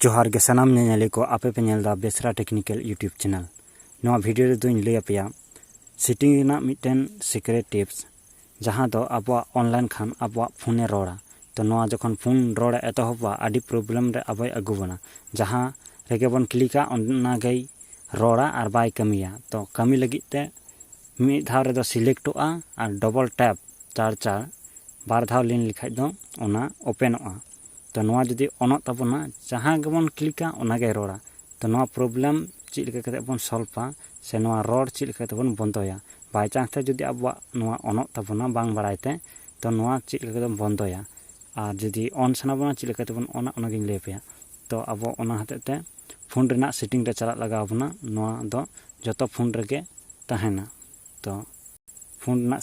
ᱡᱚᱦᱟᱨ ᱜᱮ ᱥᱟᱱᱟᱢ ᱧᱮᱧᱮᱞᱤ ᱠᱚ ᱟᱯᱮ ᱯᱮ ᱧᱮᱞ ᱫᱟ ᱵᱮᱥᱨᱟ ᱴᱮᱠᱱᱤᱠᱮᱞ ᱤᱭᱩᱴᱩᱵᱽ ᱪᱮᱱᱮᱞ ᱱᱚᱣᱟ ᱵᱷᱤᱰᱤᱭᱳ ᱨᱮᱫᱚᱧ ᱞᱟᱹᱭ ᱟᱯᱮᱭᱟ ᱥᱮᱴᱤᱝ ᱨᱮᱱᱟᱜ ᱢᱤᱫᱴᱮᱱ ᱥᱤᱠᱨᱮᱴ ᱴᱤᱯᱥ ᱡᱟᱦᱟᱸ ᱫᱚ ᱟᱵᱚᱣᱟᱜ ᱚᱱᱞᱟᱭᱤᱱ ᱠᱷᱟᱱ ᱟᱵᱚᱣᱟᱜ ᱯᱷᱳᱱᱮ ᱨᱚᱲᱟ ᱛᱚ ᱱᱚᱣᱟ ᱡᱚᱠᱷᱚᱱ ᱯᱷᱳᱱ ᱨᱚᱲᱮ ᱮᱛᱚᱦᱚᱵᱟ ᱟᱹᱰᱤ ᱯᱨᱚᱵᱞᱮᱢ ᱨᱮ ᱟᱵᱚᱭ ᱟᱹᱜᱩ ᱵᱚᱱᱟ ᱡᱟᱦᱟᱸ ᱨᱮᱜᱮ ᱵᱚᱱ ᱠᱞᱤᱠᱟ ᱚᱱᱟᱜᱮᱭ ᱨᱚᱲᱟ ᱟᱨ ᱵᱟᱭ ᱠᱟᱹᱢᱤᱭᱟ ᱛᱚ ᱠᱟᱹᱢᱤ ᱞᱟᱹᱜᱤᱫ ᱛᱮ ᱢᱤᱫ ᱫᱷᱟᱣ ᱨᱮᱫᱚ ᱥᱤᱞᱮᱠᱴᱚᱜᱼᱟ ᱟᱨ ᱰᱚᱵᱚᱞ ᱴᱮᱯ ᱪᱟᱨ ᱪᱟᱨ ᱵᱟᱨ ᱫᱷᱟᱣ ᱞᱤᱱ ᱞᱮᱠᱷᱟᱡ ᱫᱚ ᱚᱱᱟ ᱳᱯᱮᱱᱚᱜᱼᱟ ᱛᱚ ᱱᱚᱣᱟ ᱡᱩᱫᱤ ᱚᱱᱚᱜ ᱛᱟᱵᱚᱱᱟ ᱡᱟᱦᱟᱸ ᱜᱮᱵᱚᱱ ᱠᱞᱤᱠᱟ ᱚᱱᱟᱜᱮ ᱨᱚᱲᱟ ᱛᱚ ᱱᱚᱣᱟ ᱯᱨᱚᱵᱞᱮᱢ ᱪᱮᱫ ᱞᱮᱠᱟ ᱠᱟᱛᱮ ᱵᱚᱱ ᱥᱚᱞᱵᱷᱟ ᱥᱮ ᱱᱚᱣᱟ ᱨᱚᱲ ᱪᱮᱫ ᱞᱮᱠᱟ ᱛᱮᱵᱚᱱ ᱵᱚᱱᱫᱚᱭᱟ ᱵᱟᱭ ᱪᱟᱱᱥ ᱛᱮ ᱡᱩᱫᱤ ᱟᱵᱚᱣᱟᱜ ᱱᱚᱣᱟ ᱚᱱᱚᱜ ᱛᱟᱵᱚᱱᱟ ᱵᱟᱝ ᱵᱟᱲᱟᱭ ᱛᱮ ᱛᱚ ᱱᱚᱣᱟ ᱪᱮᱫ ᱞᱮᱠᱟ ᱠᱟᱛᱮ ᱵᱚᱱᱫᱚᱭᱟ ᱟᱨ ᱡᱩᱫᱤ ᱚᱱ ᱥᱟᱱᱟ ᱵᱚᱱᱟ ᱪᱮᱫ ᱞᱮᱠᱟ ᱛᱮᱵᱚᱱ ᱚᱱᱟ ᱚᱱᱟᱜᱤᱧ ᱞᱟᱹᱭ ᱟᱯᱮᱭᱟ ᱛᱚ ᱟᱵᱚ ᱚᱱᱟ ᱦᱚᱛᱮᱡ ᱛᱮ ᱯᱷᱳᱱ ᱨᱮᱱᱟᱜ ᱥᱮᱴᱤᱝ ᱨᱮ ᱪᱟᱞᱟᱜ ᱞᱟᱜᱟᱣ ᱵᱚᱱᱟ ᱱᱚᱣᱟ ᱫᱚ ᱡᱚᱛᱚ ᱯᱷᱳᱱ ᱨᱮᱜᱮ ᱛᱟᱦᱮᱱᱟ ᱛᱚ ᱯᱷᱳᱱ ᱨᱮᱱᱟᱜ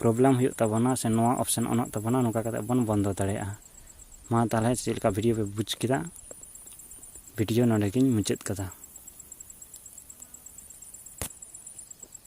ᱯᱨᱚᱵᱞᱮᱢ ᱦᱩᱭᱩᱜ ᱛᱟᱵᱚᱱᱟ ᱥᱮ ᱱᱚᱣᱟ ᱚᱯᱥᱮᱱ ᱚᱱᱚᱜ ᱛᱟᱵᱚᱱᱟ ᱱᱚᱝᱠᱟ ᱠᱟᱛᱮᱫ ᱵᱚᱱ ᱵᱚᱱᱫᱚ ᱫᱟᱲᱮᱭᱟᱜᱼᱟ ᱢᱟ ᱛᱟᱦᱚᱞᱮ ᱪᱮᱫ ᱞᱮᱠᱟ ᱵᱷᱤᱰᱭᱳ ᱯᱮ ᱵᱩᱡᱽ ᱠᱮᱫᱟ ᱵᱷᱤᱰᱭᱳ ᱱᱚᱰᱮ ᱜᱤᱧ ᱢᱩᱪᱟᱹᱫ ᱠᱟᱫᱟ